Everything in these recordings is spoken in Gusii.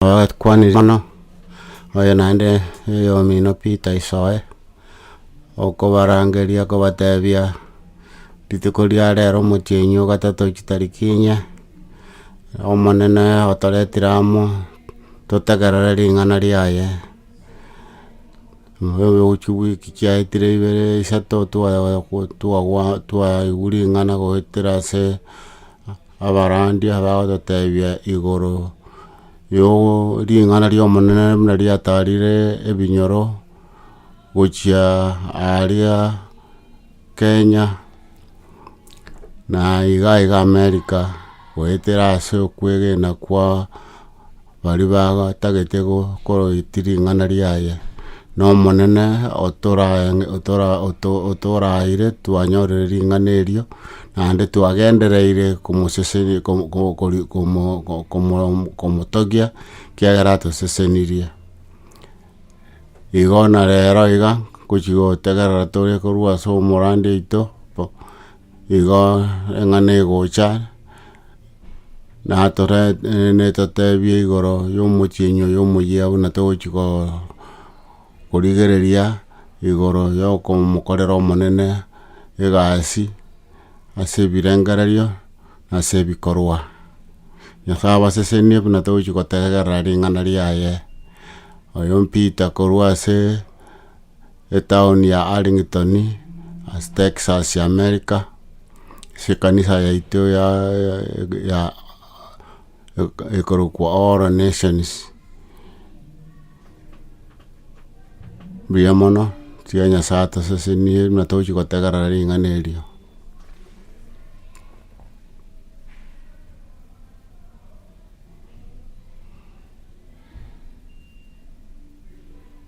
Twakwanire mono, oyo naende eyomino Peter Isoe, okobarangeria kobatebia rituko ria rero omotienyi o gatato chitariki inye, Omonene otoretire amo totegerere ring'ana riaye, chiwiki chiaetire ibere isato twa twa twaigwa ring'ana goetera ase. Abarandia bagototebia igoro yogo ring'ana ri'Omonene buna riatarire ebinyoro gochia aaria Kenya, na iga iga America, goetera ase okwegena kwa. Baria bagatagete gokoroti ring'ana riaye, Nomonene otoraeire twanyorire ring'ana erio, naende twagendereire komotogia, ekiagera atosesenirie. Igo na rero iga, gochi gotegerera tore korwa ase omorande oito. Igo eng'ana egocha natore netotebie igoro yomotienyi oyo omoyia buna togochi ko korigereria igoro yokomokorera omonene egasi ase ebirengererio nase ebikorwa. Nyasaye abasesenie buna togochi gotegerera ring'ana riaye. Oyo mpita korwa ase. Etaoni ya Arlington ase Texas y'Amerika, ase ekanisa yaito ya ya ekorokwa All Nations, mbuya mono, tiga Nyasae atosesenie buna togochi gotegerera ring'ana erio.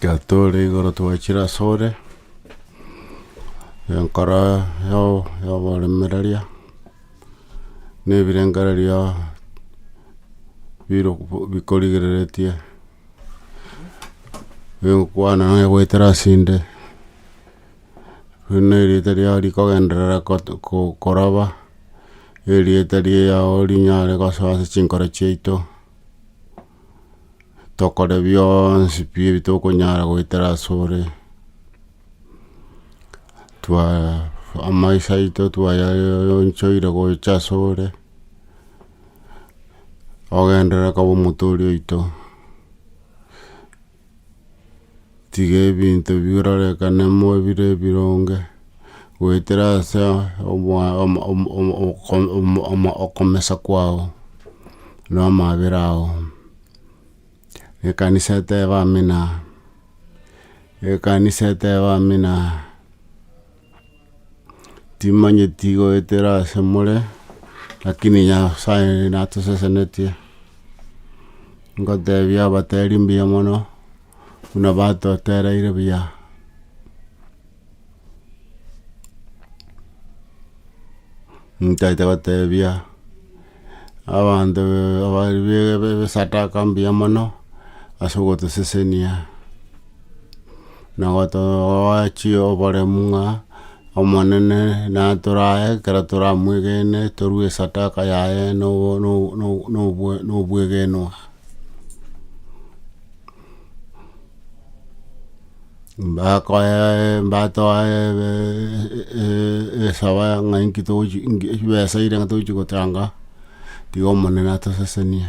Gatore igoro twachire asore, enkoro ya- yaoboremereria, na ebirengererio bire bikorigereretie, bigokwana naye goetera asende. buna erieta riao rikogenderera koraba, erieta riao rinyare gosoa ase chinkoro chiaito, tokore bionsi pi ebitokonyara goetera asore, twa amaiso aito twayayonchoire gocha asore, ogenderere koba omotooria oito. Tiga ebinto birorekane mo bire ebironge, goetera ase okomesa kwao na amaabera ao. Ekanisa etebe amina, ekanisa etebe amina. Timanyeti goetera ase more, lakini Nyasae natosesenetie, ngotebia abateri mbuya mono, buna batotereire buya. Ntaete gotebia. Abanto b'ebisadaka mbuya mono ase ogotosesenia na gotoa oboremu ng'a Omonene natore aye ekero toramwegene torue esadaka yaye na obwegenwa. mbakoe mbatoe esaba ng'ai ki togochi chibesa chire ng'ai togochi gotanga, tiga Omonene atosesenie.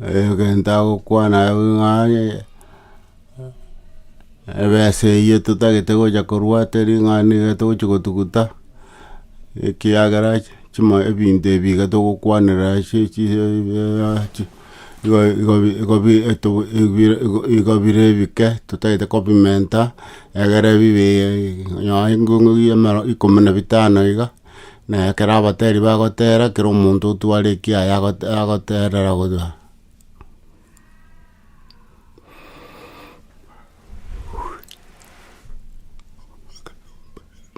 egento agokwana abwo ng'aye, ebesa eywo totagete gocha korwa teri ng'a niga togochi gotuguta, ekiagera ch- chimo ebinto ebi iga togokwanera ase chi igo igo bi igo bi eto bire igo bire ebike totagete kobimenta, egere bibe nonye nko ikomi na bitano iga. Na ekero abateeri bagoteera, kera omonto otware ekiaye agote- agoteerera godwa.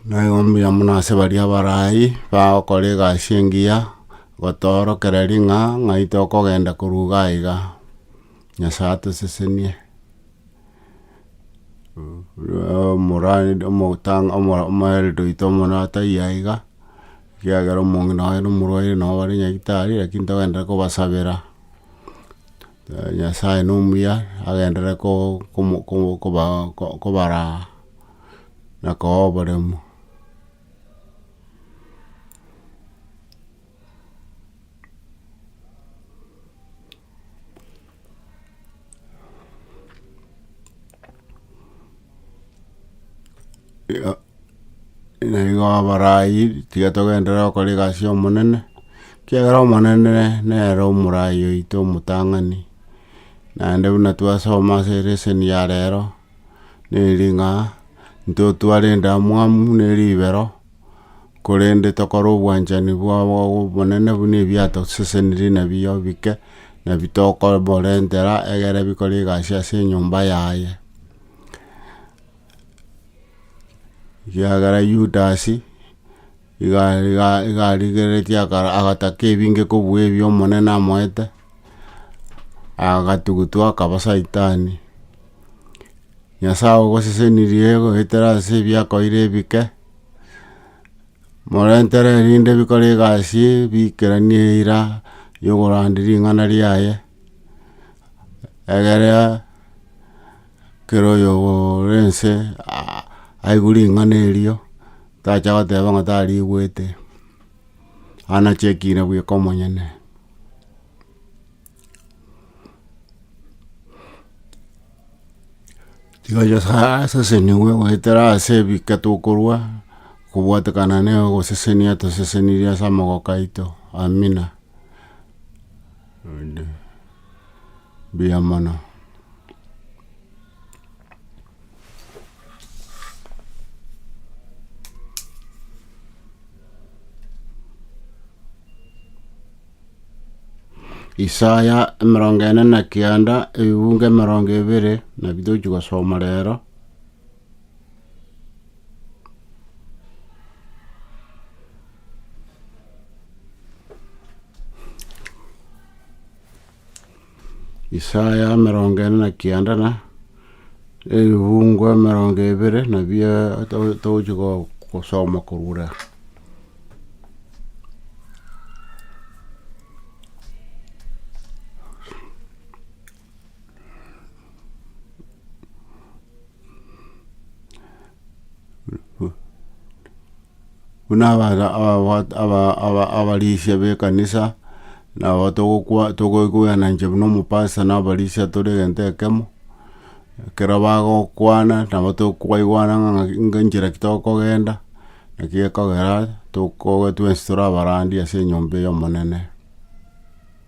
Naigo mbuya mono ase baria abare ayio, bagokora egasi engiya, gotoorokera ring'a, ng'ai tokogenda korwa iga iga. Nyasae atosesenie, omoerio oito omonene ataiyo aiga, ekiagera omong'ina oye nomorwaire nabo bare nyagitari lakini togenderera kobasabera, Nyasae nomuya agenderere kobaraa na kobaaa oboremu. Igo na igo abarai tiga togenderere gokora egasi y'omonene, ekiagera omonene nere omorai oito omotang'ani, naende buna twasoma ase elesen ya rero, neri ng'a, intwe otwarente amwamu ne ribero. korende tokore obwanchani obonene buna ebiatosesenirie nabiyo bike, nabi tokoborentera egere bikore egasi ase enyomba yaye. Ekiagera Yudas, iga iga iga arigeretie akara agataka ebinge kobua ebio omonene amoete, agatugutwa akaba saitani. Nyasae ogosesenirie goetera ase ebiakoire ebike. morentere erinde bikore egasi biikeranie eira yokorande ring'ana riaye, egere kera oyo ore ense a- aigwe ring'ana erio, tacha goteba ng'a tarigwete, anachekire bweka omonyene. Tiga Nyasae asesenigwe goetera ase ebike tokorwa, kobwatekana nogosesenia atosesenirie ase amagoko aito. Amina. Mbuya mono. Isaya emerongo ene na kianda ebibungo emerongo ebere nabio tochi gosoma rero. Isaya emerongo ene na kianda na ebibungo emerongo ebere nabio to- togochi go- gosoma korwa ere. Buna abarisia b'ekanisa, nabo togoikwana inche buna omopasta na abarisia tore egento ekemo, ekero bagokwana nabo tokwaigwana ng'a enchera ki tokogenda, naki gekogera tokoba twensi tore abarandi ase enyomba ey'Omonene.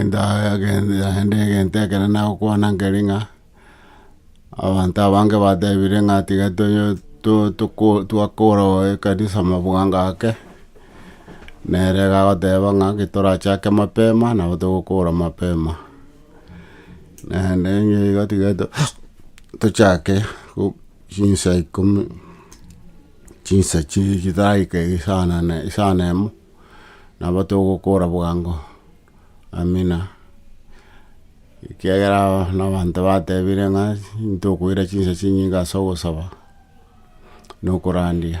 naende egento ekero nagokwana nkere ng'a, abanto abange batebire ng'a tiga toyo to- toko twakora ekanisa mabwanga ake, nere iga agoteba ng'a ki torachake mapema nabo togokora mapema. Naende nigo tiga to- tochake go. Chinsa ikomi, chinsa chiria chitaraika isana emo, nabo togokora bwango. Amina. Ekiagera na abanto batebire ng'a ntokoira chinsa chinyinge ase ogosaba na okorandia.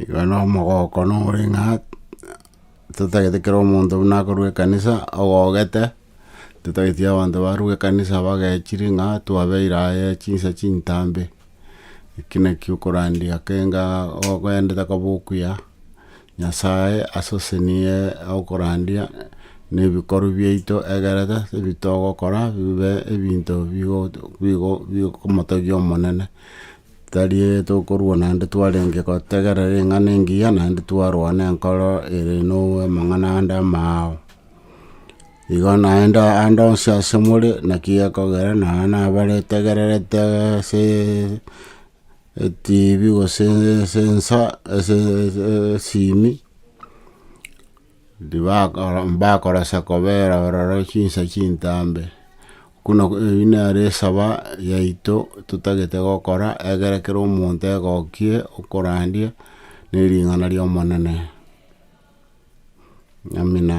Igo na omogoko na omoring'at, totagete kera omonto buna akorwa ekanisa ogogete, totageti abanto barwe ekanisa bagechi ring'a twabeire aye chinsa chintambe, eki naki okorandia kenga okoendete koba okuya, Nyasae asosenie okorandia nebikorwa biaito egerete ebitogokora bibe ebinto bigomotogia Omonene, tari tokorwa naende twarenge gotegerera ring'ana engiya naende twarwa nenkoro ere namang'ana ande amao. Igo naende ande onsi ase more naki gekogera nonye nabare tegererete ase Etibi gose esensa esimi mbakoresa kobera ororo chinsa chintambe buna eyio nere esaba yaito totagete gokora egere kera omonto egokie okorandia ne ring'ana ria omonene. Amina.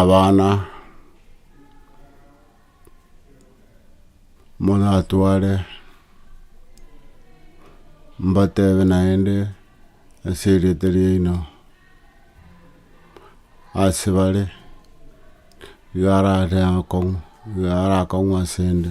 abana moratware mbatebe naende ase erieta riaino asebare iga arare akong'u iga arakong'u asende.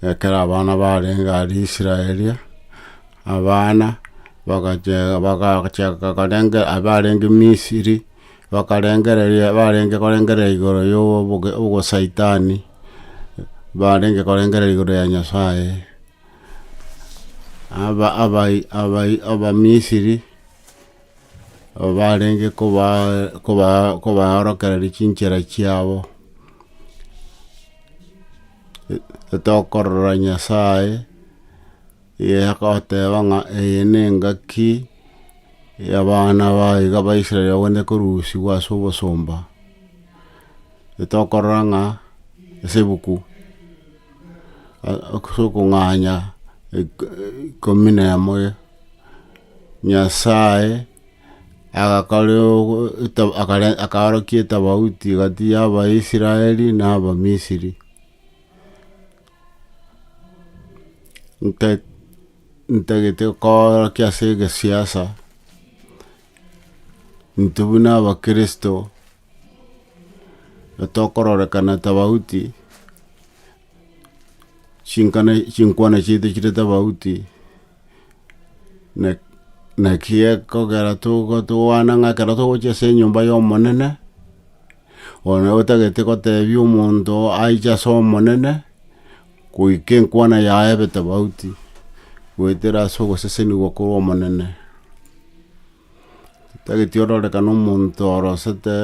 Ekero abana barenge aria Israeli, abana bagachia bagachaka korenge abarenge Misiri, bakarengereria barenge korengereria igoro ya obosaitani, barenge korengereria igoro ya Nyasaye. Abamisiri aba barenge kobaorokereria chinchera chiabo, tokorora Nyasaye agoteba ng'a eye ne engaki y'abana baye iga Abaisrael bagende korusigwa ase obosomba, tokorora ng'a ase ebuku. as'okong'anya ikomi na emo, Nyasae agakora akaorokia etofauti egati y'Abaisraeli na Abamisiri. Ntagete koorokia as'egesiasa, intwe buna Abakristo. Tokororekana tofauti, chinkana chinkwana chiaito chire tofauti, na- naki ekogera togo tokwana ng'a ekero togochia ase enyomba ya Omonene, one otagete gotebia omonto aiche ase Omonene, goika enkwana yaye ebe tofauti, goetera ase ogosesenigwa korwa Omonene. Titageti ororekane omonto orosete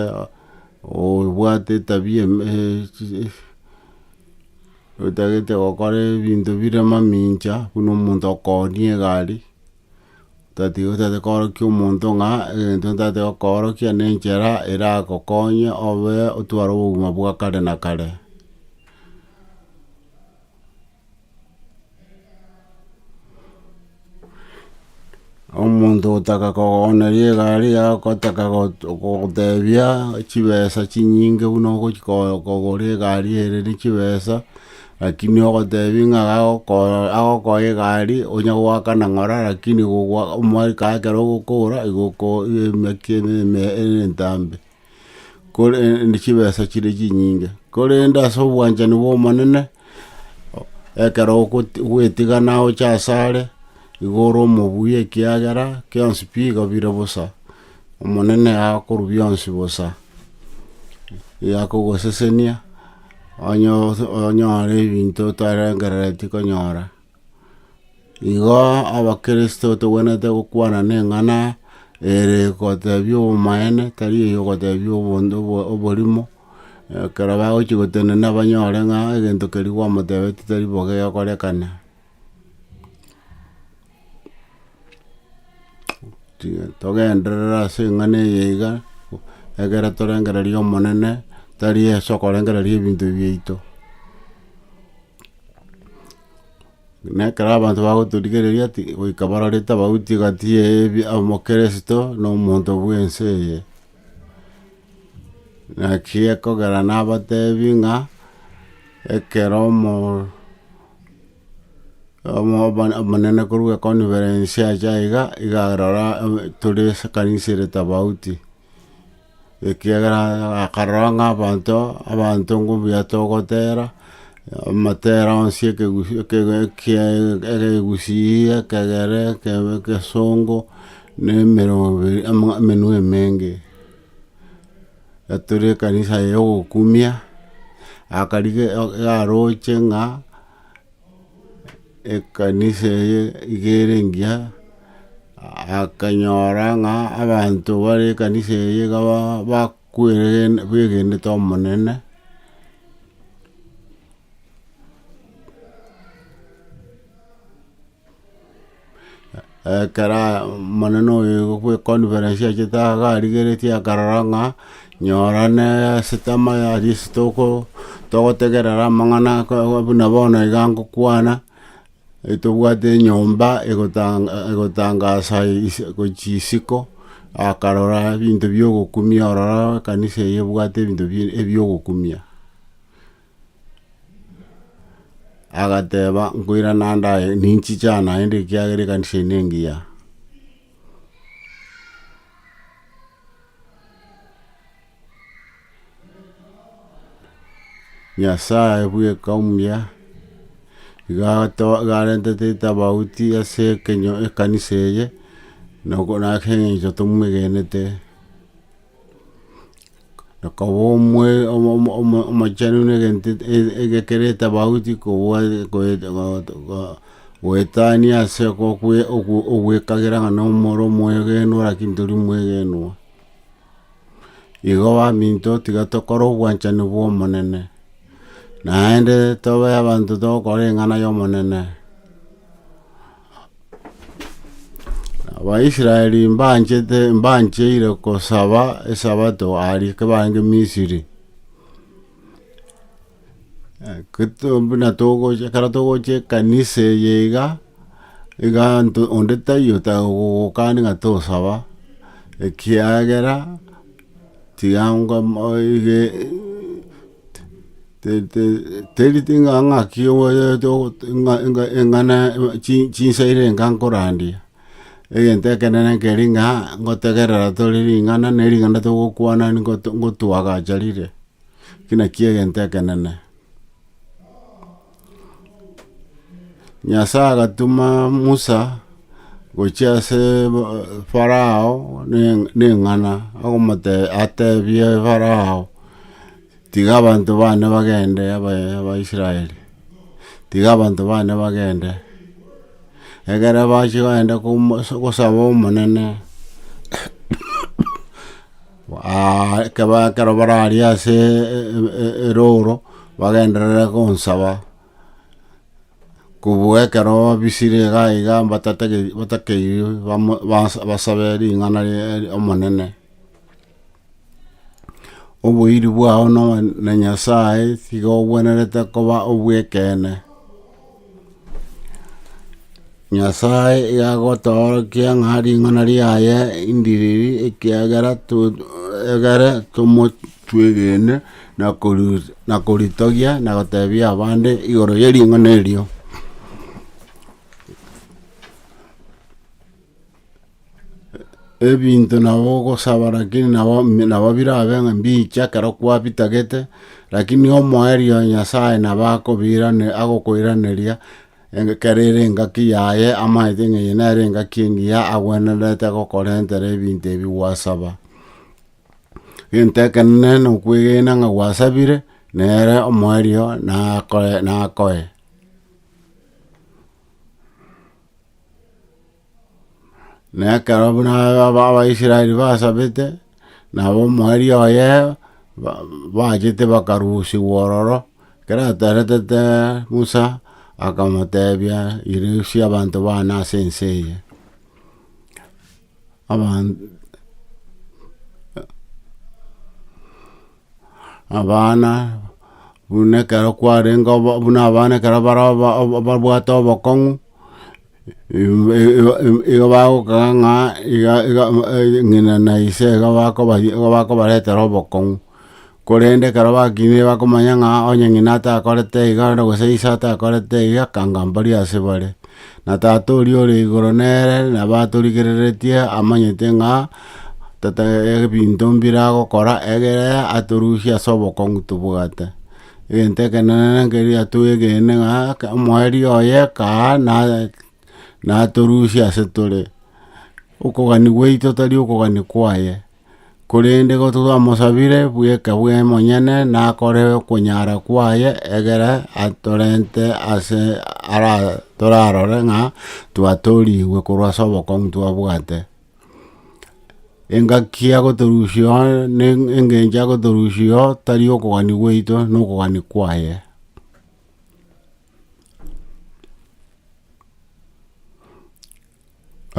obwate etabia otagete gokora ebinto bire mamincha buna omonto okooonia egari otatiga otagete koorokia omonto ng'a egento ntate gokoorokia ne enchera eragokonye obe otware obogima bwa kare na kare. Omonto otaka kogogoneria egari yao gotaka gotebia chibesa chinyinge buna ogochi kogora egari ere ne chibesa, rakini ogotebia ng'a agokoa egari onya goakana ng'ora rakini omwaka ekero ogokora igo oko emeke eme ere entambe. korende chibesa chire chinyinge, korende ase obwanchani bw'Omonene, ekero ogo- gwetigana oche asare, igo ore omobuya ekiagera bionsi bigo bire bosa, Omonene akorwa bionsi bosa, igo akogosesenia, onye- onyore ebinto otarengereretie konyora. Igo Abakristo togwenerete gokwana neng'ana ere gotebia obomaene, tari eye ogotebia obonto obo- oborimo, ekero bagochia gotenena banyore ng'a egento keria gwamotebeti tari bo gegorekana. Tiga togenderere ase eng'ana eye iga, egere torengereria Omonene, tari ase okorengereria ebinto biaito. Na ekero abanto bagoturigereria ati goika barore tabauti egati eye ebi- omokeresito na omonto bw'ense eye. Naki ekogera nabatebi ng'a ekero omo- omo- omo- omonene korwa econference acha iga, iga arora tore ekanisa ere tobauti. ekiagera akarora ng'a abanto, abanto mbuya togotera, amatera onsi ekegusi ekege ekie egegusii, ekegere, ekebe egesongo, na emerongo ebere ama amenwe emenge. Etore ekanisa eye yogokumia, akarige o- yaroche ng'a. Ekanisa eye iga ere engiya, akanyora ng'a abanto bare ekanisa eye iga ba- bakwegene- begenete Omonene, Ekero omonene oye bw'ekonferensi achete iga arigeretie akarora ng'a nyora ne esete amaya aria ase toko togotegerera amang'ana aka buna bono iga ngokwana, etobwate enyomba egotanga egotangasa ise gochia isiko, akarora ebinto biogokumia ororo ekanisa eye ebwate ebinto bi ebiogokumia. agateba, Nkoirana ndaaye, ninchicha naende ekiagera ekanisa eye nengiya. Nyasaye bweka omuya, iga ato- iga arentete etabauti ase ekenyo ekanisa eye, noko naki eng'encho tomwegenete. Nakoba omwe omo- omo- omo- omochenu na egento et- et- egekero etabauti kobua goet- goet- go- goetania ase okokwe ogo ogwekagera ng'a na omoro omwegenwa rakini tori omwegenwa. Igo baminto tiga tokore obwanchani bwa omonene, naende tobe abanto togokora eng'ana ya omonene. Abaisraeli mbanchete, mbancheire gosaba Esabato aria ekero barenge Misiri. Ekero buna togocha, ekero togocha ekanisa eye iga, iga nto, onde taiyo otagokani ng'a tosaba, ekiagera tiga Teri ting'ana ng'aki eng'ana chinsairi enga nkorandia, egento ekenene keri ng'a ngotegerera tore ring'ana ne ring'ana togokwana ngotwagacha rire, eki nakio egento ekenene. Nyasae agatoma Musa gochia ase Farao neng'ana, atebie Farao, tiga abanto bane bagende Abaisraeli, tiga abanto bane bagende, ekero bachia kogenda kosaba Omonene. Aa, ekeba ekero bararie ase erooro bagenderere gonsaba, kobua ekero babisire iga iga batakeirwe basabe ring'ana ria Omonene. Oboiri bwao na Nyasae tiga obwenerete koba obw'ekeene. Nyasae iga agotoorokia ng'a ring'ana riaye indiriri, ekiagera twegere tomotwegene na koritogia na goteebia abande igoro ye ring'ana erio. ebinto nabo ogosaba rakini nabo nabo birabe ng'a mbiche ekero kwabitagete, rakini omoerio o Nyasaye nabo akobiranera agokoiraneria eng' ekero ere engaki yaye amaete ng'a eye nere engaki engiya agwenerete gokorentera ebinto ebi gwasaba. Egento ekenene na okwegena ng'a gwasabire, nere omoerio nakoe nakoe. Na ekero buna Abaisraeli basabete, na ab'omoerio oye bachete bakarusigwa ororo, ekero ateretete Musa, akamotebia, Irusia abanto baane ase ense eye. abana buna ekero kwarenge buna abana ekero bare babwate obokong'u. Igo bagokaka ng'a iga iga ng'ina na ise iga bakobaria igo bakobaretera obokong'u. Korende ekero bakineire bakomanya ng'a onye ng'ina atakorete iga na gose ise atakorete iga akanga mbaria ase bare. Na tata oria ore igoro nere nabo atorigereretie amanyete ng'a tata ebinto mbire agokora egere atorusie ase obokong'u tobwate. Egento ekenene nekeria twegene ng'a omoerio oye kaa natorusia ase tore, okogani gwaito tari okogani kwaye, korende igo twamosabire bweka bwe monyene nakore okonyara kwaye egere atorente ase ara torarore ng'a twatorigwe korwa ase obokong'u twabwate. Engaki agotorusia oo, na engencho agotorusia oo, tari okogania gwaito, na okogania kwaye.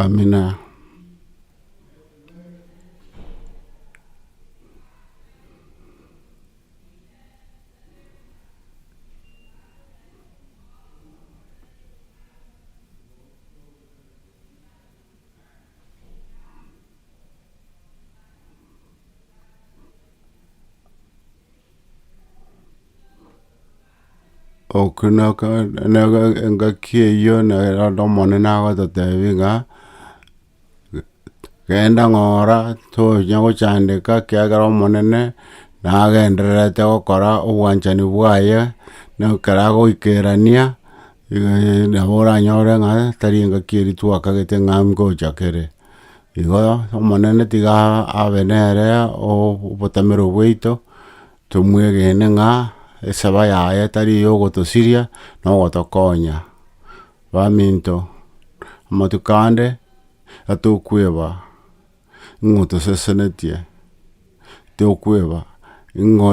Amina. Okonoka naka engaki eyio naye rende omonene agototebi ng'a, genda ng'ora tonya gochandeka ekiagera omonene nagendererete gokora obwanchani bwaye, na ekero agoikerania. Ee, nabo oranyore ng'a tari engaki eri twakagete ng'a ngocha kere. Igo Omonene tiga abe nere obotamero bwaito, tomwegene ng'a esaba yaye tari eyogotosiria, na ogotokonya. Baminto, amatuko ande, atokweba. ng'a otasesenetie, tokweba ng'a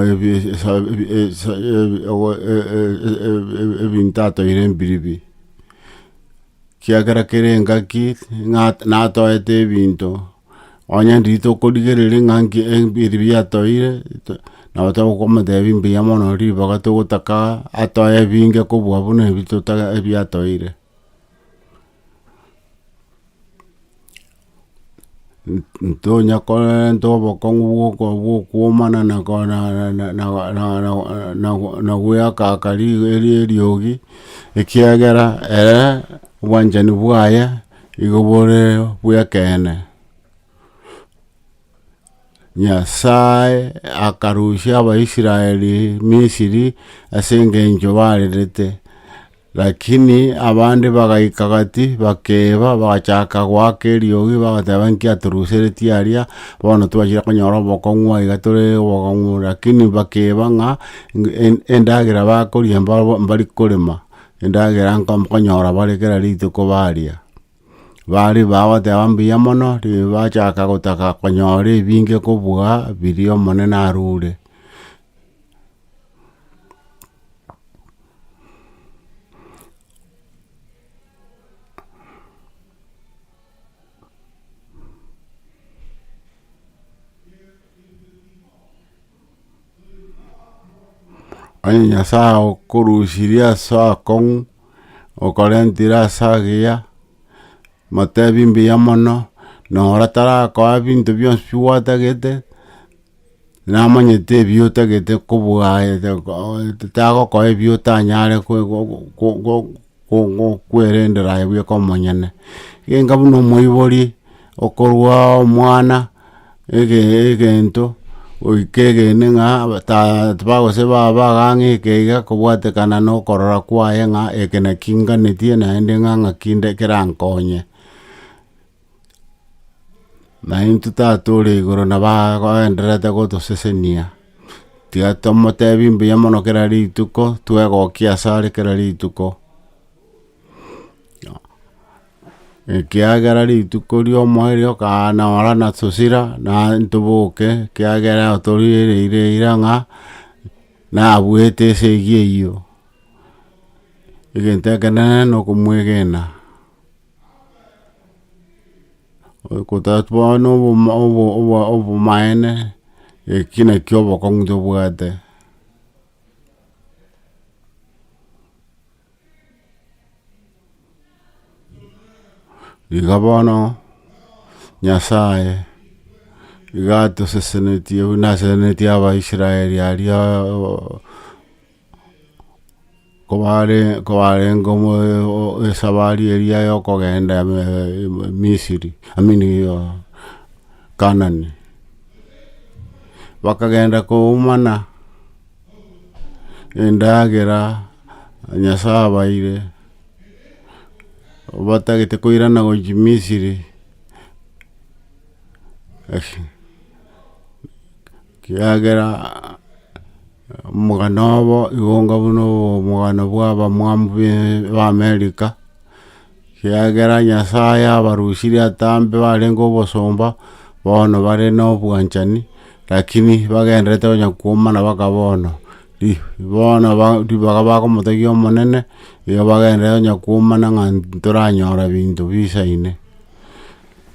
ebinto atoeire mbiribi, ekiagera kere engaki ng'a natoete ebinto, onye ndiri tokorigereria ng'a nki mbiribi atoeire, nabo tokomotebia mbuya mono ribaga togotaka atoe ebinge kobua buna ebi atoeire. Ntonya korenta obokong'u bw'oko bw'okwomana na ko na na na na goeakaka ri eri eriogi, ekiagera ere obwanchani bwaye igo bore bw'ekeene. Nyasae akarusia Abaisraeli Misiri ase engencho barerete, lakini abande bagaika gati, bakeba, bagachaka goaka eriogi, bagateba, Inki atoruseretie aria? Bono twachire konyora obokong'u aiga tore obokong'u, lakini bakeba ng'a endagera bakoria mbari korema, endagera nkonyora bare kera rituko baria. Baria bagoteba mbuya mono, ribacha bachaka gotaka konyora ebinge kobua biria Omonene arure. Onye Nyasae agokorusirie ase akong'u, okorentire ase agiya, motebi mbuya mono, na ora tarakoa binto bionsi bi gwatagete, namanyete ebi otagete kobua aye, tagokoa ebi otanyare gokwerendera aye bweka omonyene, genga buna omoibori okorua omwana egento goika egene ng'a bagose baba gang'a eke iga kobwatekana na okorora kwaye ng'a eke naki nganetie naende ng'a ng'aki nde kerankonye. Naintwe Tata ore igoro nabo agendererete gotosesenia, tiga tomotebi mbuya mono kera rituko, twegokia asare kera rituko, ekiagera rituko riomoa erio okanora natosira naye toboke ekiagera otorigereire eira ng'a nabuete esegi eyio, egento ekenene nokomwegena. Ogotatwa na obomaene eki nakio obokong'u tobwate. Iga bono nyasaye iga atosesenetie buna asesenetie abaisraeli aria kobarengo esabari eria yokogenda misiri I mean kanani bakagenda koumana endagera nyasaye abaire batagete koirana gochia misiri. Kiagera omogano obo igonga buna obomogano bw'abamwamu b'Amerika, kiagera Nyasaye abarusirie atambe barenge obosomba, bono bare na obwanchani, rakini bagendererete onye koumana baka bono. Bono ribaga bagomotegia Omonene, igo bagendererete onye koumana ng'a ntoranyora binto bisaine.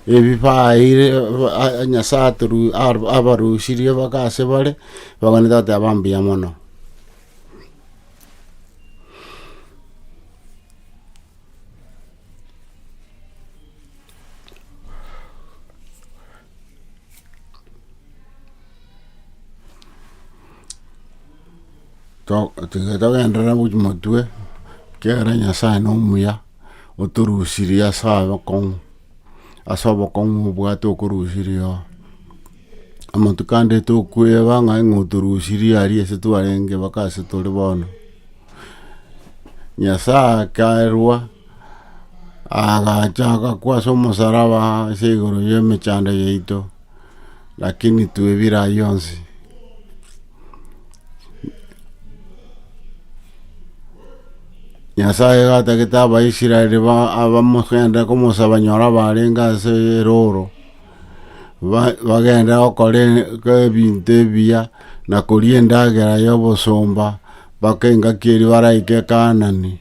Ebibaeire Nyasae abarusirie bake ase bare, baganie Tata yabo mbuya mono. Tiga togenderera gotwa motwe, ekiagera Nyasae nomuya. otorusirie ase abakong'u, ase obokong'u obwate okorusirie oo. Amatuko ande tokoeba ng'a aye otorusirie aria ase twarenge mpaka ase tore bono. Nyasaye akarua agacha agakwa ase omosaraba ase igoro y'emechando yaito. Lakini twebire ayio onsi, Nyasae gatagete Abaisraeli ba- abamogende komosaba banyore abarenge ase erooro, ba- bagende gokora e- ge ebinto ebiya, na koria endagera ya obosomba, mpaka engaki eria baraike Kaanani.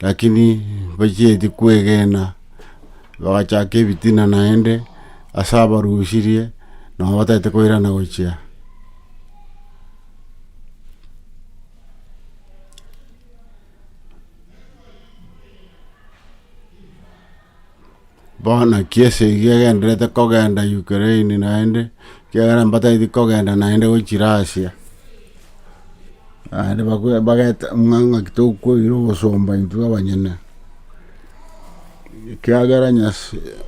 Lakini bachieti kwegena, bagachaka ebitina naende ase abarusirie, nao batagete koirana gochia. Bono ki esegi egendererete kogenda Ukraine naende, ekiagera mbataeti kogenda naende gochira Asia. Naende bago- bagete ng'a ng'aki tokoira obosomba intwe abanyene, ekiagera Nyasa-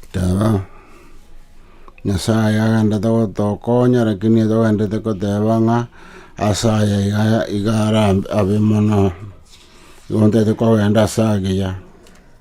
Teba, Nyasae agendete gotokonya, lakini togendete koteba ng'a ase aya iga iga ara abe mono. Igo ntete kogenda ase agiya.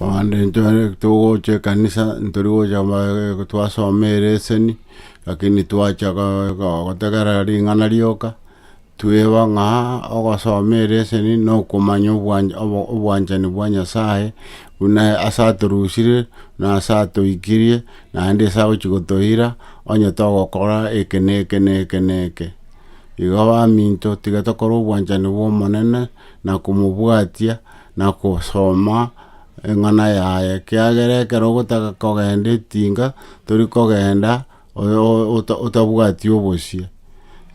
Abande ntore togocha ekanisa ntori gocha ba- twasoma ereseni, lakini twacha go- go- gotegerera ring'ana rioka. Tweba ng'a ogosoma ereseni nokomanya obwanchani bwa Nyasae buna ase atorusirie na ase atoikirie naende ase agochia gotoira onye togokora eke na eke na eke na eke. Igo baminto tiga tokore obwanchani bw'Omonene na komobwatia na kosoma eng'ana yaye, ekiagera ekero ogotaka kogenda etinga, tori kogenda otabwati obosie.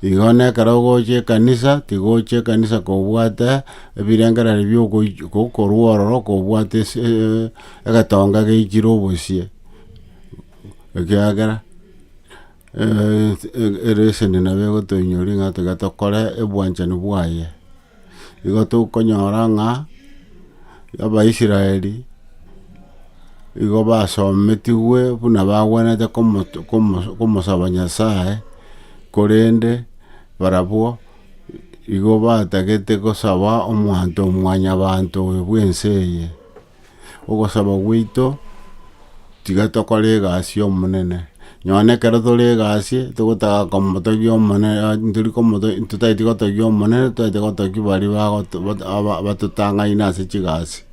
Igo nekero ogocha ekanisa, tiga oche ekanisa kobwate ebirengereri bio gokorwa ororo kobwate egetonga geichire obosie, ekiagera ereseni nabo egotoinyora ng'a tiga tokore obwanchani bwaye. Igo tokonyora ng'a Abaisraeli igo basometigwe buna bagwenerete komosaba Nyasae, korende barabwo igo batagete gosaba omwanto o mwanyabanto oyo bw'ense eye. ogosaba gwaito, tiga tokore egasi y'Omonene. Nonya ekero tore egasi, togotaga komotogia Omonene tori komotogia totaeti kotogia Omonene, toete kotogia baria bagoto aba batotang'aine ase chigasi.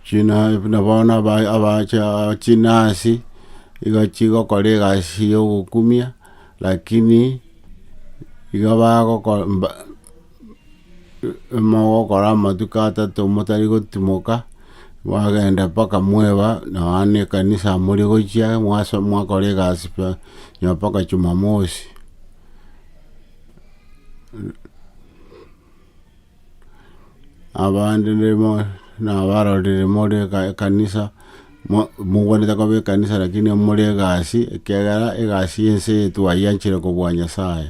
China buna bono aba abacha chinasi, iga chigokora egasi ya ogokumia. Lakini iga bagokora mogokora amatuko atato motari gotimoka, mwagenda mpaka mweba nonya ne ekanisa mori gochia mwasoma mwakora egasi pi nonya mpaka Jumamosi. Abande rimo nabarorire more ekanisa, mo- mogwenerete koba ekanisa lakini more egasi, ekiagera egasi ya ense eye twayianchire kobua Nyasaye.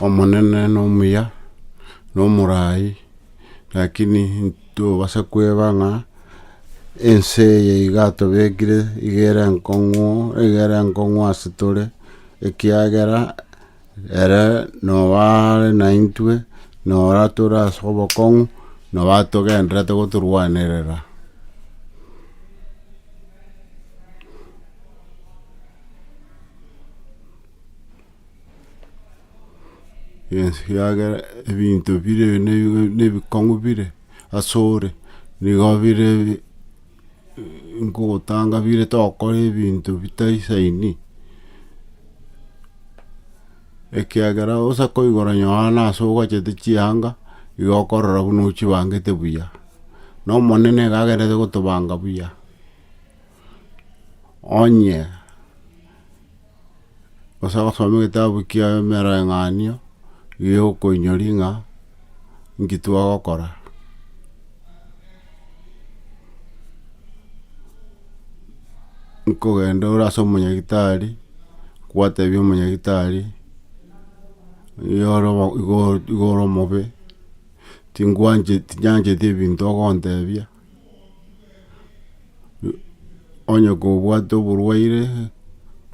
Omonene nomuya, nomoraai, rakini ntobasa kweba ng'a ense eye iga atobekire iga ere enkong'u iga ere enkong'u ase tore ekiagera. Ere noare naintwe, nora tore ase obokong'u, nobatogenderete gotorwanerera. Yes, ekiagera ebinto bire ne- ne- nebikong'u bire asore, nigo bire Nkogotanga bire togokora ebinto bitaisaini, ekiagera onsi akoigora nyoraa na ase ogachete chianga igo okorora buna ochibangete buya, na omonene iga agenderete gotobanga buya, onye. gose agosoma egetabu kia emereng'anio, erio okoinyori ng'a nki twagokora. Nkogenda ore ase omonyagitari, kwatebia omonyagitari, oyoro igo ore omobe, tingwancheti tinyancheti ebinto ogontebia. onye kobwate oborwaire,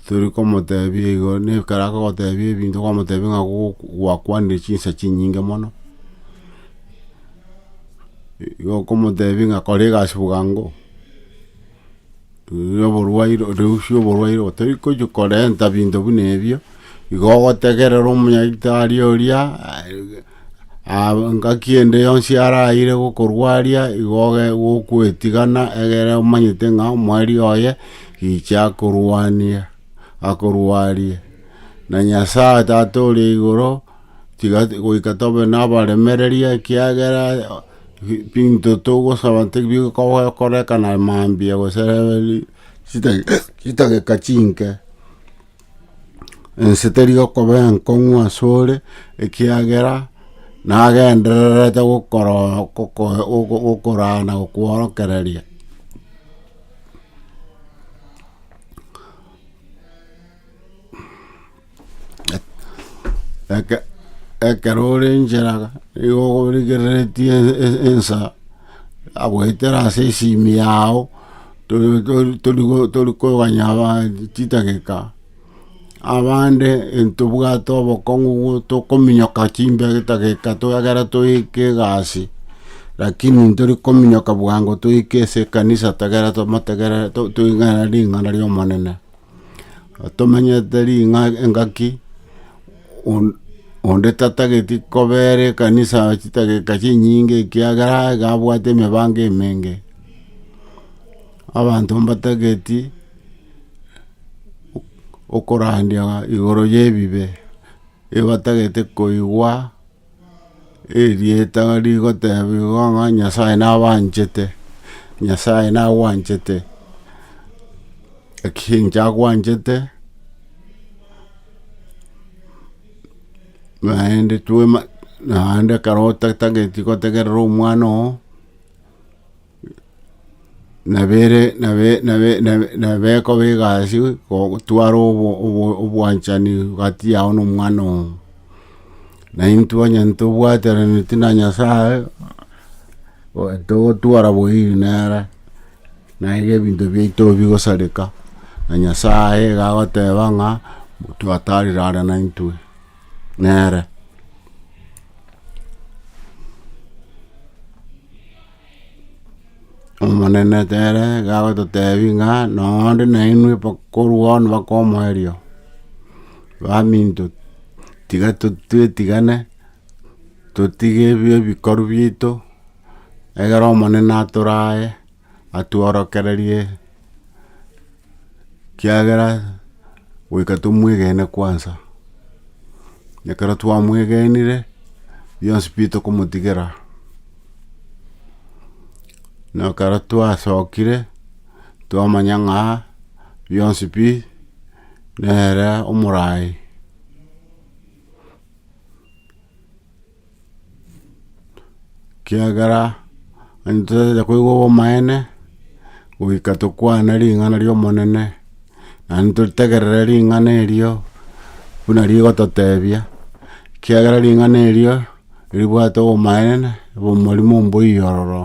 tori komotebia igo, na ekero agogotebia ebinto kwamotebia ng'a goku gwakwanire chinsa chinyinge mono, igo okomotebia ng'a kora egasi bwango. Riu oborwaire riusi oborwaire otaria gochia korenta binto buna ebio, igo ogotegerera omonyagitari oria, aah ngaki ende yonsi araire gokorwaria igo oge gokoetigana egere omanyete ng'a omwari oye richi akorwania akorwarie, na Nyasaye tata oria igoro, tiga goika tobe nabaremereria ekiagera. Ebinto togosaba tibikokorekana mambia gose chidageka chinke, ense teri gokoba enkong'u ase ore ekiagera nagendererete gokoraa na gokworokereria. Eke- ekero ore inchera nigo okorigereretie e- e- ensa agoetera ase esimi yago tori- tori- torigo- torikoganya aba chidageka, abande ntobwate obokong'u bwo tokominyoka chimbe chidageka ekero toika egasi, lakini ntori kominyoka bwango toika ase ekanisa ekegoera tomotegerere to- toigana ring'ana ri'Omonene. Tomenyete ring'a engaki, on- onde tatageti kobera ekanisa chidakika chinyinge ekiagera iga abwate emebango emenge. Abanto mbatageti okorandia igoro ye ebibe, ebatagete koigwa. Erieta rigotebiwa ng'a Nyasae nabanchete, Nyasae nagwanchete, naki inche agwanchete, naende twema naende ekero otatageti gotegerera omwana oo. nabere nabe nabe nabe nabekoba egasi gotwara obo obo obwanchani gati yao na omwana oo. Naintwe onye ntobwateraneti na Nyasaye, oe togotwara boiyi nere, naiga ebinto biaito bigosareka, na Nyasaye iga agoteba ng'a twatarire are naintwe nere. Omonene ere gagototebi ng'a nonde nainwe korwa bono mpaka omoerio, baminto tiga twetigane, totige ebikoru biaito, egere Omonene atorae, atworokererie. Kiagera goika tomwegene kwansa, ekero twamwegenire bionsi pi tokomotigera, na ekero twasokire twamanya ng'a bionsi pi nere omoraai. Ekiagera onye totacha koigwa obomaene, goika tokwane ring'ana ri'omonene, naende totegerere ring'ana erio buna rigototebia, ekiagera ring'ana erio ribwate obomaene, obomorimo mboiyo ororo.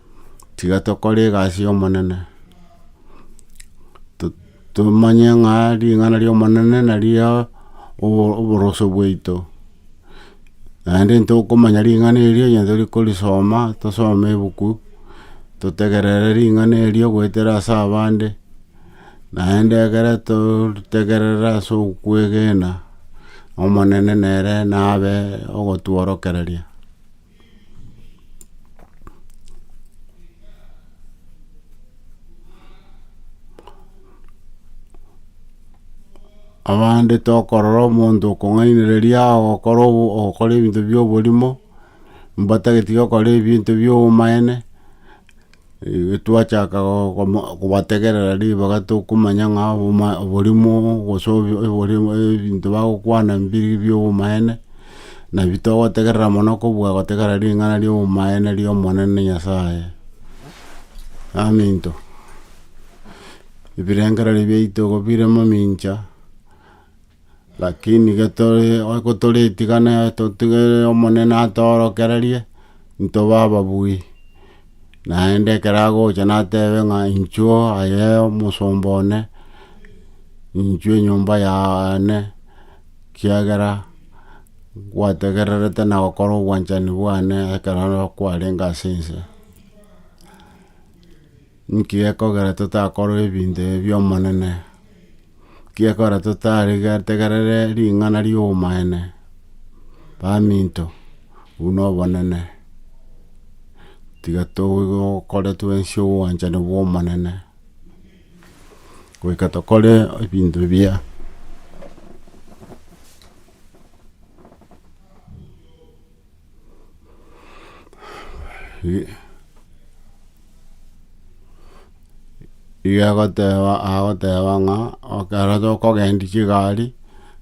tiga tokore egasi y'Omonene, tomanye ng'a ring'ana ri'Omonene nario oboroso bwaito, naende ntokomanya ring'ana erio onye torigorisoma, tosome ebuku, totegerere ring'ana erio goetera ase abande, naende ekero totegerera ase okwegena, Omonene nere nabe ogotworokereria. Abande tokorora omonto okong'ainereria agokora obo- ogokora ebinto bi'oborimo, mbatagete gokora ebinto bi'obomaene. Twachaaka kobategerera ribaga tokomanya ng'a oborimo gose ebinto bagokwana mbiri biobomaene, nabi togotegerera mono kobua gotegerera ring'ana riobomaene riomonene Nyasaye. Aminto, ebirengererio biaito igo bire mamincha. Lakini getore gotoritigana totigere Omonene atoorokererie, ntobe ababui. Naende ekero agocha natebe ng'a inchuo aye omosomba one, inchuo enyomba yane, kiagera gwategererete na gokora obwanchani bwane ekero kwarenge ase ense. Nki gekogera totakorwa ebinto ebi bi'Omonene? Nki gekogera totarigetegerere ring'ana ri'obomaene? Baminto, obwo nobonene, tiga tokore twensi obwanchani bw'Omonene, goika tokore ebinto ebiya. Igo agoteba agoteba ng'a ekero tokogendia chigari,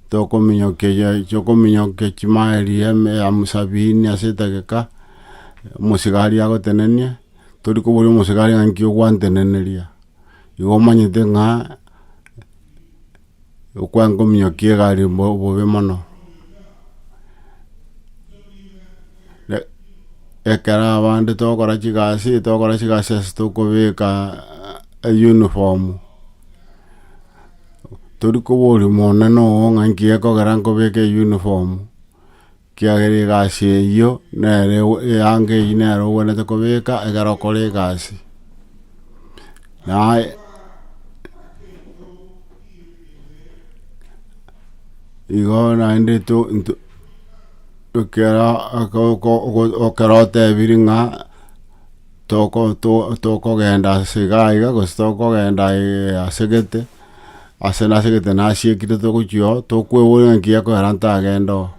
tokominyokia ya tokominyokia chimaeli ya eme ya mosabini ase etageka, omosigari agotenenie, tori koboria omosigari ng'a nki ogwanteneneria, igo omanyete ng'a. Okwangominyokia egari bo- bobe mono. E- ekero abande togokora chigasi, togokora chigasi ase tokobeka uniform, tori koboria monene oo ng'a nki gekogera nkobeke uniform. Ekiagera egasi eyio nero eyange eyio nero ogwenerete kobeka ekero okore egasi. Naye igo naende to nto ekero oko ekero otebiri ng'a toko to tokogenda ase iga iga gose tokogenda ase gete. Ase nase egete nasiekire togochia oo, tokweboria ng'a enki gekoera ntagende oo.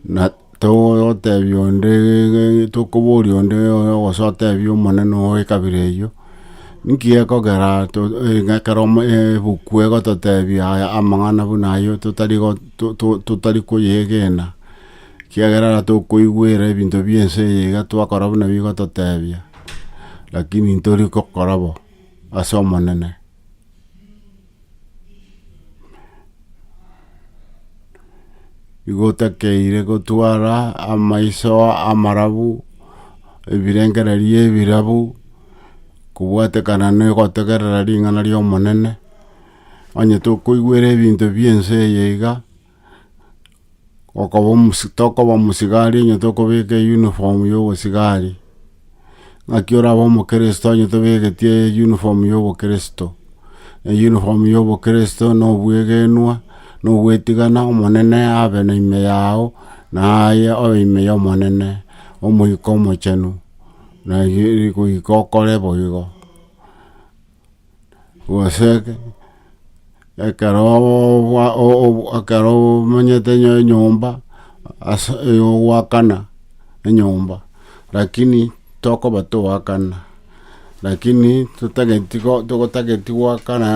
Na togotebia onde ng'a tokoboria onde gose otebie omonene oo ekabira eyio, inki gekogera to ng'a ekero ebuku egototebia aya amang'ana buna ayio totari go to- to- totari koyegena, ekiagera ekero tokoigwera ebinto bia ense eye iga twakora buna bigototebia, lakini ntori gokora bo ase omonene. Igotakeire gotwara amaiso amarabu, ebirengererio ebirabu, kobwatekana na ogotegerera ring'ana ri'Omonene, onye tokoigwera ebinto bi'ense eye iga. okoba omosi tokoba omosigari onye tokobeka eyuniform ya obosigari, ng'aki orabe omokristo onye tobegetie eyuniform ya obokristo, eyuniform ya obokristo na obwegenwa, na ogwetigana omonene abe na ime yago, na aye obe ime ya omonene, omoika omochenu, na erio goika okore boigo. gose ekero omanyete enyomba ase ogoakana enyomba lakini tokoba toakana lakini totageti togotageti goakana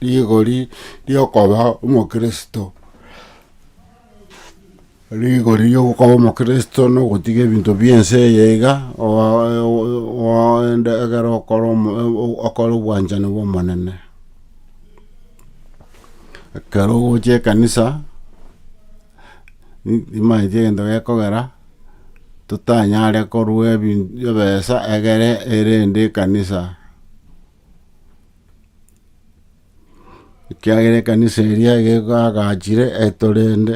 rigori riokoba omokristo. Rigori ri'okoba omokristo nogotiga ebinto bi'ense eye iga, oende ekero okore okore obwanchani bw'Omonene. Ekero ogocha ekanisa, nimanyeti egento gekogera, totanyare korwa ebi ebesa egere erende ekanisa. ekiagera ekanisa eria iga egagachire etwe rende,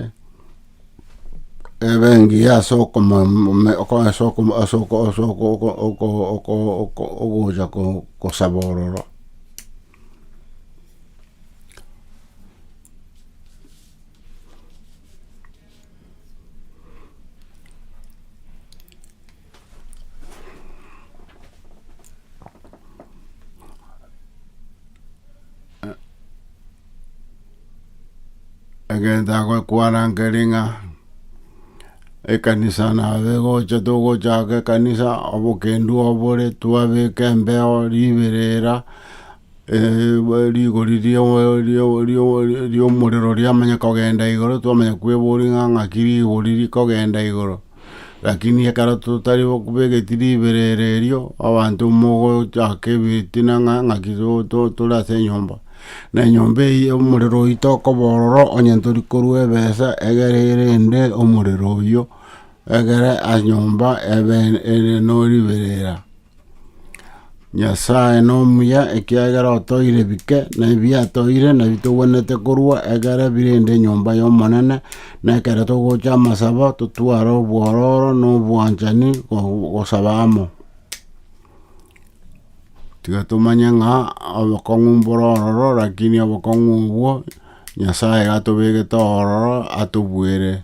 ebe engiya ase okomomome ase okoma ase oko ase oko oko oko oko oko ogocha kosaba ororo. egento agokwana nkere ng'a ekanisa naye gocha togochaka ekanisa, obokendu obo bore twabeka embeo riberera, rigori ri'omorero riamanya kogenda igoro, twamanya kweboria ng'a ng'aki rigori rikogenda igoro. Rakini ekero totari bwegeti riberera erio, abanto mogochaka ebitina ng'a ng'aki tore ase enyomba. Na enyomba eyio omorero oyio tokoba ororo, onye tori korwa ebesa egere erende omorero oyio, egere nyomba ebe ere no riberera. Nyasae nomuya, ekiagera otoeire bike, na ebiatoeire nabio togwenerete korwa ekero birende enyomba y'Omonene, na ekero togocha amasabo totware obwororo na obwanchani go- gosaba amo. Tiga tomanye ng'a obokong'u mbore ororo, rakini obokong'u obwo Nyasaye iga atobegete ororo atobuere.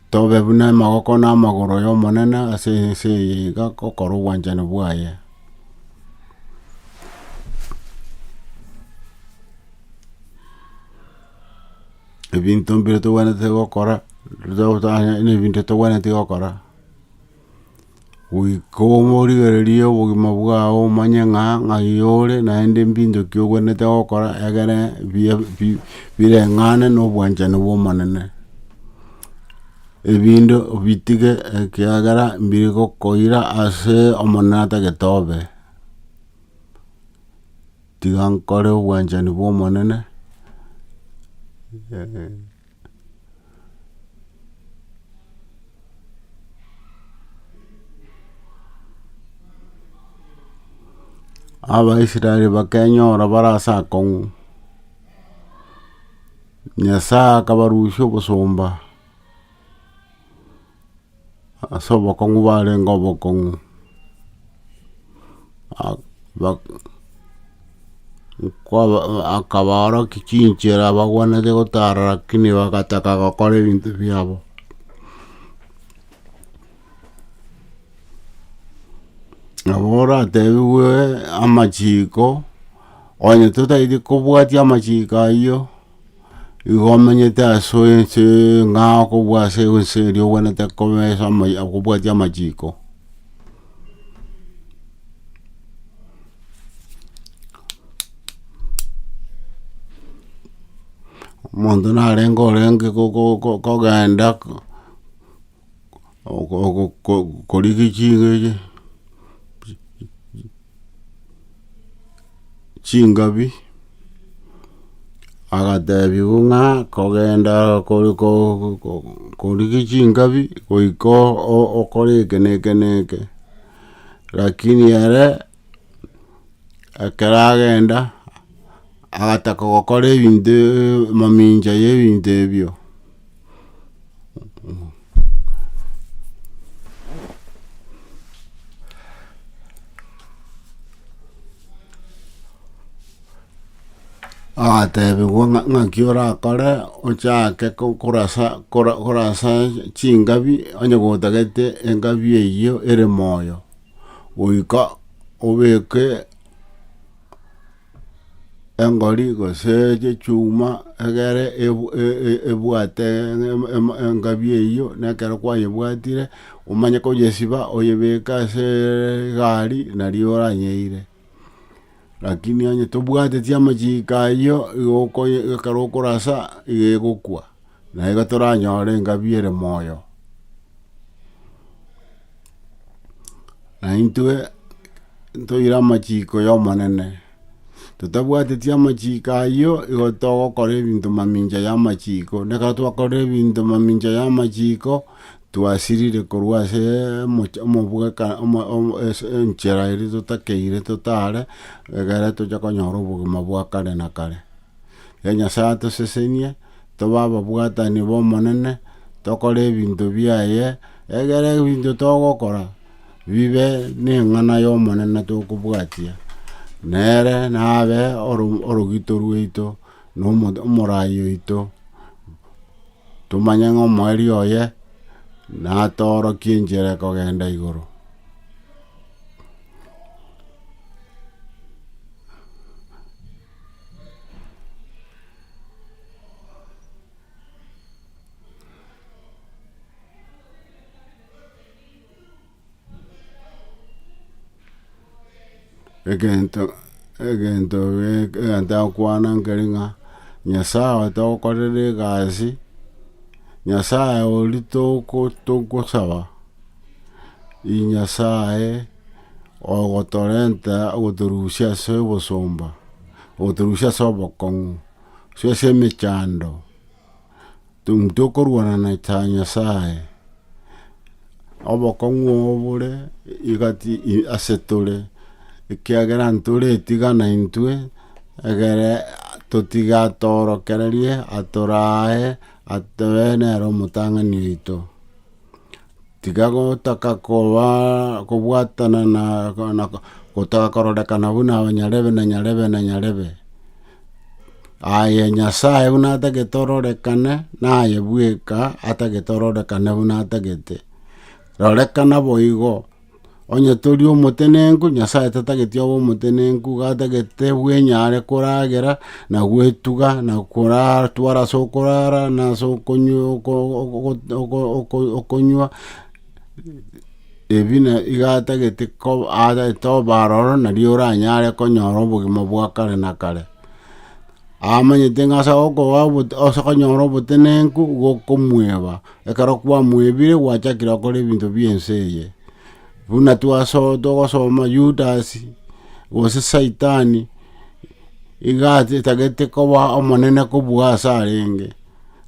Tobe buna amagoko na amagoro y'Omonene ase ense eye iga gokora obwanchani bwaye. Ebinto mbire togwenerete gokora, ebinto togwenereti gokora. goika obe origererie obogima bwao omanye ng'a ng'ai ore naende mbintoki ogwenerete gokora egere biya bi bireng'ane na obwanchani bw'Omonene. Ebinde obitige ekiagera mbire gokoira ase Omonene atagete obe. Tiga nkore obwanchani bw'Omonene. Abaisraeli bakenyora bare ase akong'u, Nyasae akabarusia obosomba. ase obokong'u barenge obokong'u, akabaorokia chinchera bagwenerete gotara lakini bagataka gokora ebinto biabo. Nabo oratebiwe amachiko, onye totaeti kobwatia amachiko ayio. Igo omenyete ase ense ng'a okobua ase ense eria obwenerete koba ase amaya okobwatia amachiko omonto narenge orenge ko- ko- ko- kogenda. okorigi chinga echi chingabi, agatebia bo ng'a kogenda korigi chingabi goika okore eke na eke na eke, lakini ere ekero agenda agataka gokora ebinto mamincha ya ebinto ebio. Agatebigwa ng'a- ng'aki orakore ochake ko- korasa kora- korasa chingabi onye gotagete engabi eyio ere moyo, goika obeke. engori gose echechuma egere ebu- e- e- ebwate em- em- engabi eyio, na ekero kwayebwatire, omanye koyesiba oyebeke ase egari nario oranyeire. Rakini onye tobwateti amachiiko ayio, igo okoye ekero okorasa igo egokwa. na igo toranyore engabi ere moyo. Naintwe ntoire amachiko y'Omonene, totabwateti amachiko ayio, igo togokora ebinto mamincha y'amachiko, na ekero twakorire ebinto mamincha y'amachiko, twasirire korwa ase omoch omobweka omo omo ase enchera eria totakeire totare, egere toche konyora obogima bwa kare na kare. Rirorio Nyasae atosesenie tobe ababwatani b'Omonene, tokore ebinto biaye, egere ebinto togokora bibe neng'ana y'Omonene tokobwatia, nere nabe orogito rwaito, na omorai oito, tomanye ng'a omoerio oye natoorokie enchera ekogenda igoro. egento egento gek- egento agokwana nkere ng'a nyasae oye togokorera egasi, nyasae oria toko togosaba. Inee Nyasae ogotorenta ogotorusia ase obosomba, ogotorusia ase obokong'u, gose ase emechando? Intwe okorwana na Nyasae, obokong'u obo bore ase tore, ekiagera ntore etigana intwe, egere totige atorokererie, atorae, atoe nere omotang'ani oito. Tiga gotaka koba kobwatana na gotaka kororekana buna aba nyarebe na nyarebe na nyarebe. Aye Nyasae buna atagete ororekane naye bweka atagete ororekane buna atagete. Rorekana boigo. Onye tori omotenenku, Nyasae tatageti obe omotenenku, gatagete bwenyare koragera na gwetuga na koratwara ase okorara na ase okonywa oko- oko- oko- oko- okonywa, ebi na iga atagete koba atagete obe aroro nario oranyare konyora obogima bwa kare na kare. Amanyete ng'a ase agokoa obote ase okonyora obotenenku, gokomoeba. Ekero kwamwebire gwachakire gokora ebinto bi'ense eye, buna togosoma Yudasi, gose Saitani, iga atagete koba omonene kobua ase arenge.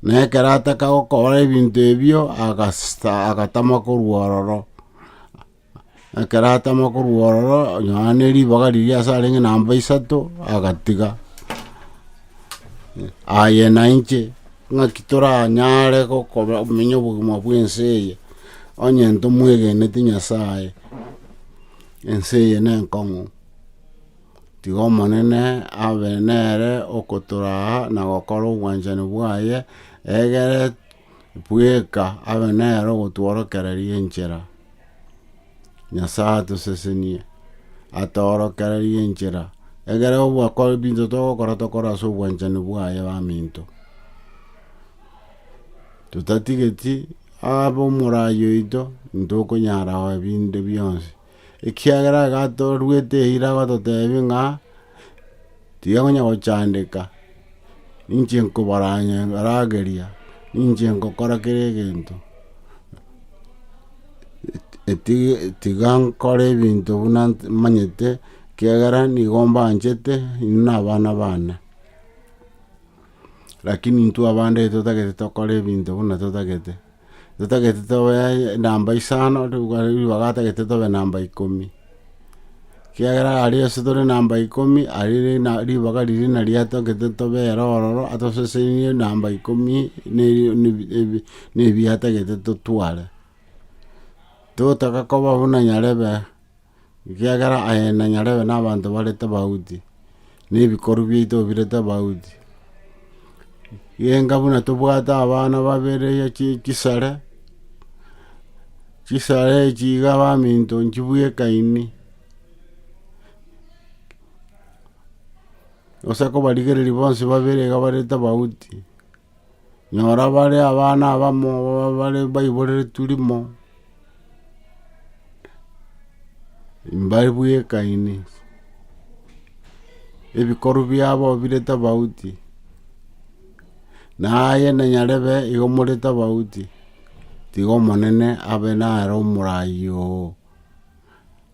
Na ekero ataka gokora ebinto ebio, agatama korwa ororo. Ekero atama korwa ororo, Yohana ribaga riria ase arenge namba isato agatiga. Aye nainche, ng'aki toranyare komenya obogima bw'ense eye, onye ntomwegeneti Nyasaye? Ense eye nenkong'u, tiga Omonene abe nere okotoraa na gokora obwanchani bwaye, egere Bweka abe nere ogotworokereria enchera. Nyasae atosesenie, atoorokererie enchera, egere obwakore binto togokora tokore ase obwanchani bwaye baminto. Totatigeti abe omoraai oito, intokonyara binde bionsi. ekiagera agatoruete eira agototeebia ng'a tiga konya gochandeka, ninche nkobaraageria, ninche nkokora kera egento, tiga nkore ebinto buna manyete ekiagera nigo mbanchete inwe na abana baane. Lakini intwe abande totagete tokore ebinto buna totagete. totagete tobe namba isano, ribaga atagete tobe namba ikomi. Ekiagera aria ase tore namba ikomi, aria rina- ribaga riria nari atagete tobe ere ororo, atosesenirie namba ikomi na eri- na ebi- ebi- na ebi atagete totware. Totaga koba buna nyarebe. ekiagera aye nanyarebe nabanto bare tobauti, na ebikoru biaito bire tobauti. Genga buna tobwate abana babere ya chisare, chisare echi iga baminto nchibweka ime, gose kobarigereria bonsi babere iga bare tobauti. Nyora bare abana abamo ababare baiboreretwe rimo, mbare bwekaine, ebikorwa biabo bire tofauti, naye na nyarebe igo more tofauti, tiga Omonene abe naro omoraai oo.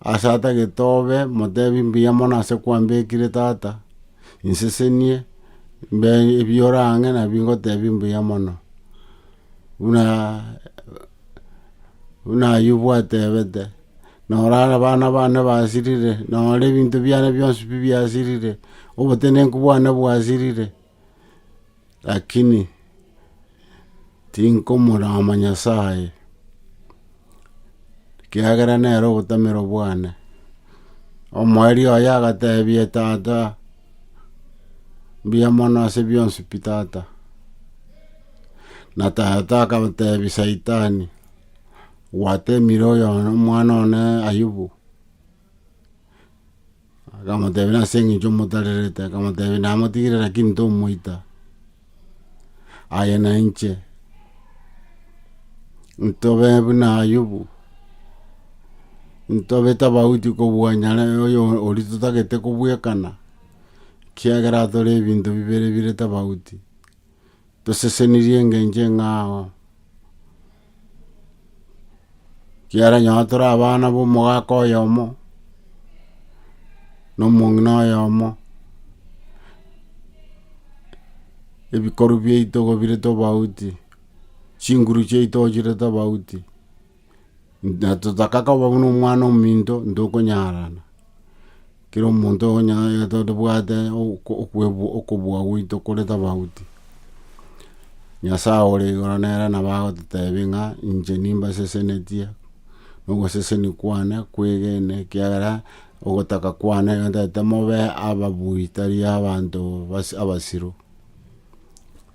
Ase atagete obe, motebi mbuya mono ase kwambekire tata, insesenie mbe ebiore ang'e nabi ngotebi mbuya mono. Buna buna Ayubu atebete, norara abana bane basirire, nore ebinto biane bionsi pi biasirire, obotenenku bwane bwasirire. Lakini tinkomorama Nyasae, ekiagera nere obotamero bwane. Omoerio oye agatebia tata, mbuya mono ase bionsi pi tata. Na tata akamotebia saitani, gwatemire oyo omwana one Ayubu. Akamotebia, Nase engencho motarerete? Akamotebia, Namotigire, lakini tomoita. Aye na inche ntobe buna Ayubu, ntobe tofauti kobua nyare oyo oria totagete kobwekana, ekiagera atore ebinto bibere bire tofauti. Tosesenirie engencho eng'ao, ekiagera nonye tore abana b'omogaka oyomo, na omong'ina oyomo, ebikorwa biaito gobire tobauti, chinguru chiaito ochire tobauti. Natotaka koba buna omwana ominto ntokonyarana, kera omonto tobwate okobua gwaito kore tofauti. Nyasaye ore igoro nere nabo agototebia ng'a inche nimbasesenetie na ogoseseni kwane kwegene ekiagera ogotaka kwane ntagete mobe ababui tari abanto abasiru.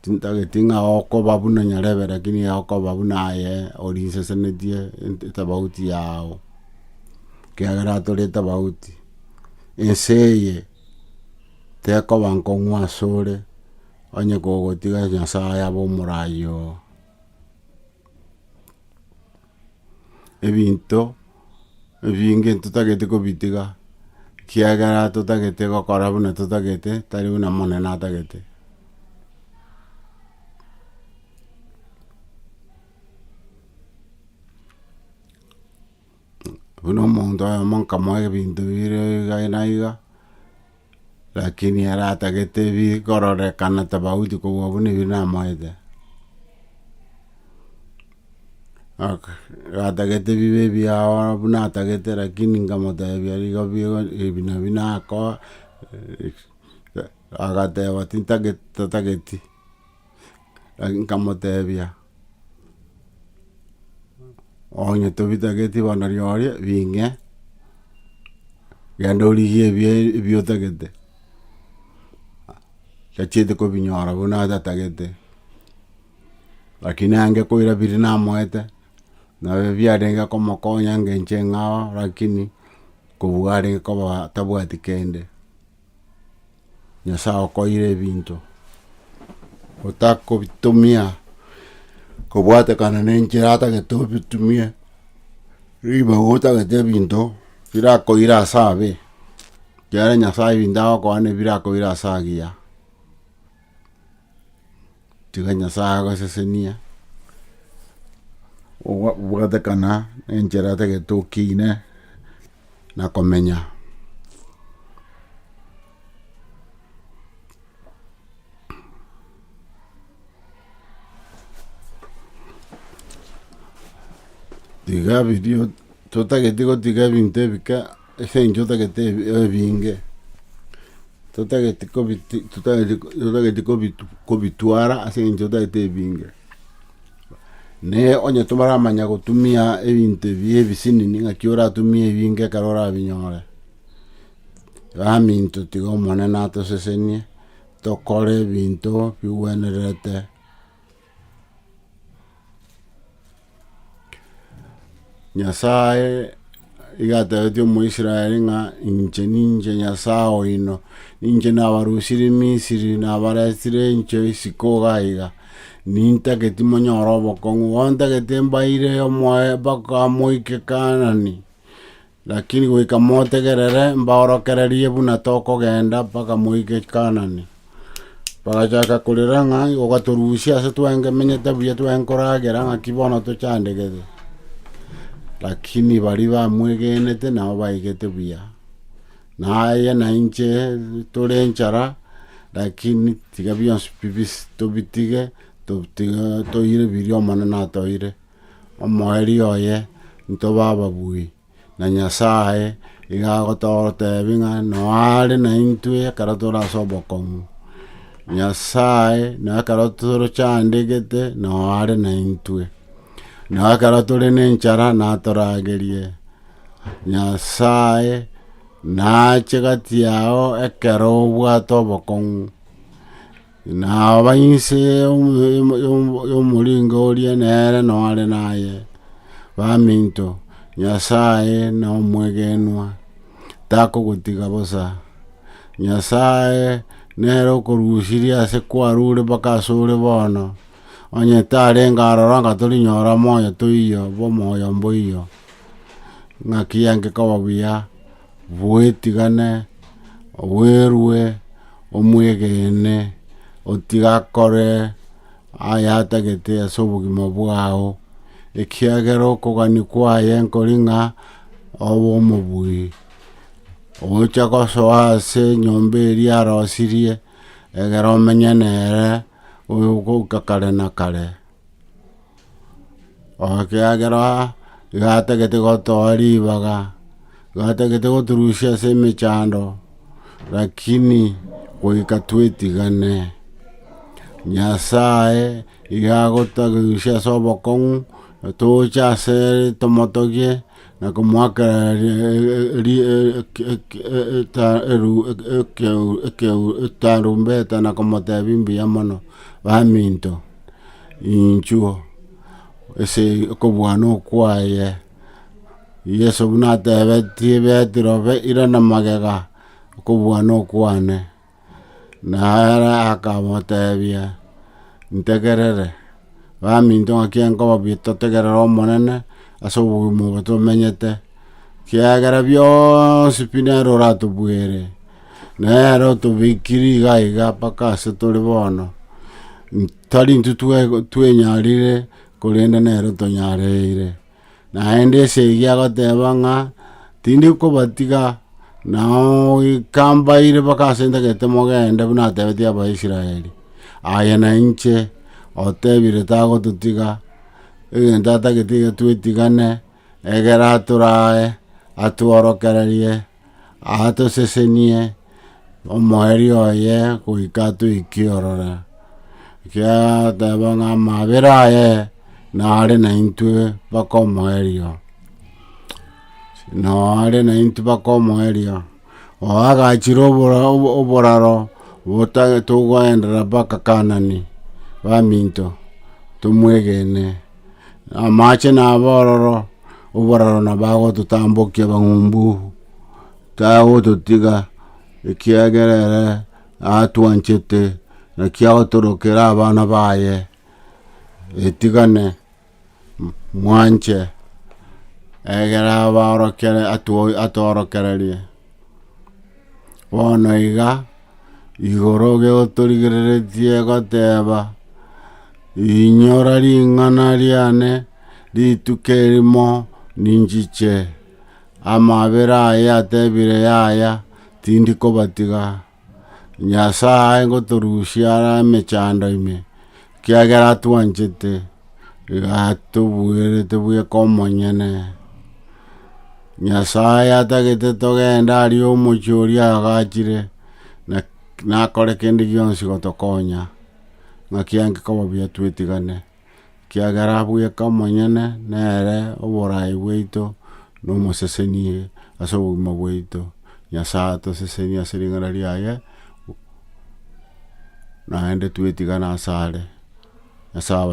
Tintageti ng'a okoba buna nyarebe, rakini okoba buna aye orinsesenetie ent- etofauti yao, ekiagera tore tofauti, ense eye tekoba nkong'u asore, onye kogotiga Nyasaye abe omoraai oo. ebinto ebinge ntotagete kobitiga, ekiagera totagete gokora buna totagete, tari buna Omonene atagete. Buna omonto oyomo nkamoa ebinto bire iga na iga. Lakini ere atagete ebigororekana tabagochia kobua buna ebi namoete. Aka- atagete bibe ebiao buna atagete lakini nkamotebia igo bigo ebi nabi nakoa agateba tintageti tatageti nkamotebia. Onye tobitageti bono riooria bing'e, genda origie ebio ebio otagete, tachieti kobinyora buna atatagete, lakini ange koira biri namoete, nabio biarenge komokonya ngencho engao, lakini kobua arenge koba tabwati kende. Nyasae okoire ebinto, otakobitumia kobwatekana nenchera atagete obitumie, ribaga otagete ebinto birakoira ase abe, ekiagera Nyasae ebinto agokoa nebirakoire ase agiya. tiga Nyasae agosesenie, obwatekana na enchera tagete okiine na komenya. Tiga birio, totageti gotiga ebinto ebike. Ase eng'encho totagete ebinge, totagete kobitwara ase eng'encho totagete ebinge. Ne onye toramanya gotumia ebinto ebi ebisinini ng'aki oratumie ebinge ekero orabinyore. Gamininto tiga Omonene atosesenie, tokore ebinto bigwenerete. Nyasae iga atebetie Omoisraeli ng'a inche ninche Nyasae oino, ninche nabarusirie Misiri nabaretire enchwe isiko iga iga, nintageti monyore obokong'u, bontagete mbaire omoe mpaka moike Kaanani. Lakini goika motegerere mbaorokererie buna tokogenda mpaka moike Kanani. Bagachaka korera ng'a, Ogatorusia ase twengemenyete buya twenkoragera, ng'aki bono tochandegete? Lakini baria bamwegenete nabo baigete buya. Na aye na inche tore enchara, lakini tiga bionsi bibisi tobitige, totige toire biria Omonene atoeire. Omoerio oye ntobe ababui, na Nyasae iga agototebi ng'a noe are naintwe ekero tore ase obokong'u. Nyasae noe ekero torochandegete noe are naintwe, noe ekero tore nenchara natoragerie. Nyasae nache gati yao ekero obwate obokong'u. Na aba inse y'omoringo oria nere noare naye, baminto, Nyasae nomwegenwa, takogotiga bosa. Nyasae nere okorusirie ase kwarure mpaka asore bono, onye tarenge aroro anga torinyora moyo toiyo bw'omoyo mboiyo, ng'a kiange koba buya bwetigane, obwerue, omwegeene, otige akore ayatagete ase obogima bwao, ekiagera okogania kwaye nkori ng'a obe omobui. Ogocha gosoa ase enyomba eria arosirie, egera omenye nere goika kare na kare. ekiagera iga atagete gotoa ribaga, iga atagete goturusia ase emechando, rakini goika twetigane, Nyasaye iga agoturusia ase obokong'u, tocha asere tomotogie. na komoakera etarumbeta na komotebia mbuya mono baminto inchuo ase okobwana okwaye. Yeso buna atebetie Petero, irana magega okobwana okwane. Nere akamotebia, Ntegerere, baminto ng'aki nkobabia totegerere Omonene ase obogima obo tomenyete, kiagera bionsi pi nere oratobwere, nere otobekiri iga iga mpaka ase tore bono, tari intwe twenyarire, korende nere otonyareire. Naende ase ege agoteeba ng'a, Tindi kobatiga. Nao goika mbaire mpaka ase ntagete mogende buna atebetie Abaisraeli. Aye nainche otebire tagototiga, egento atagete iga twetigane, egere atore aye, atworokererie, Atosesenie omoerio oye goika atweke ororo, ekiagera ateba ng'a amabera aye nare naintwe mpaka omoerio, nao are naintwe mpaka omoerio. Oye agachire oboraro togoendera mpaka Kaanani, baminto, tomwegene. Amache nabo ororo oboraro nabo agototambokia abang'umbu tagototiga ekiagera ere atwanchete naki agotorokera abana baye etigane mwanche egere abaorokere atwo atworokererie bono iga. igoro geotorigereretie egoteba, Inyora ring'ana riane, rituko erimo ninchiche. Amabera aye atebire yaya, tindi kobatiga. Nyasae ngotorusia are emechando ime, Kiagera atwanchete, iga atobuerete buya komonyene, Nyasaye atagete togende aria omochie oria agachire, na nakore kende gionsi gotokonya, ng'aki ang'e koba buya twetigane, kiagera bweka omonyene nere oborai bwaito, Nomosesenie ase obogima bwaito. Nyasae atosesenie ase ring'ana riaye, naende twetigane asare. Nyasae abasesenie.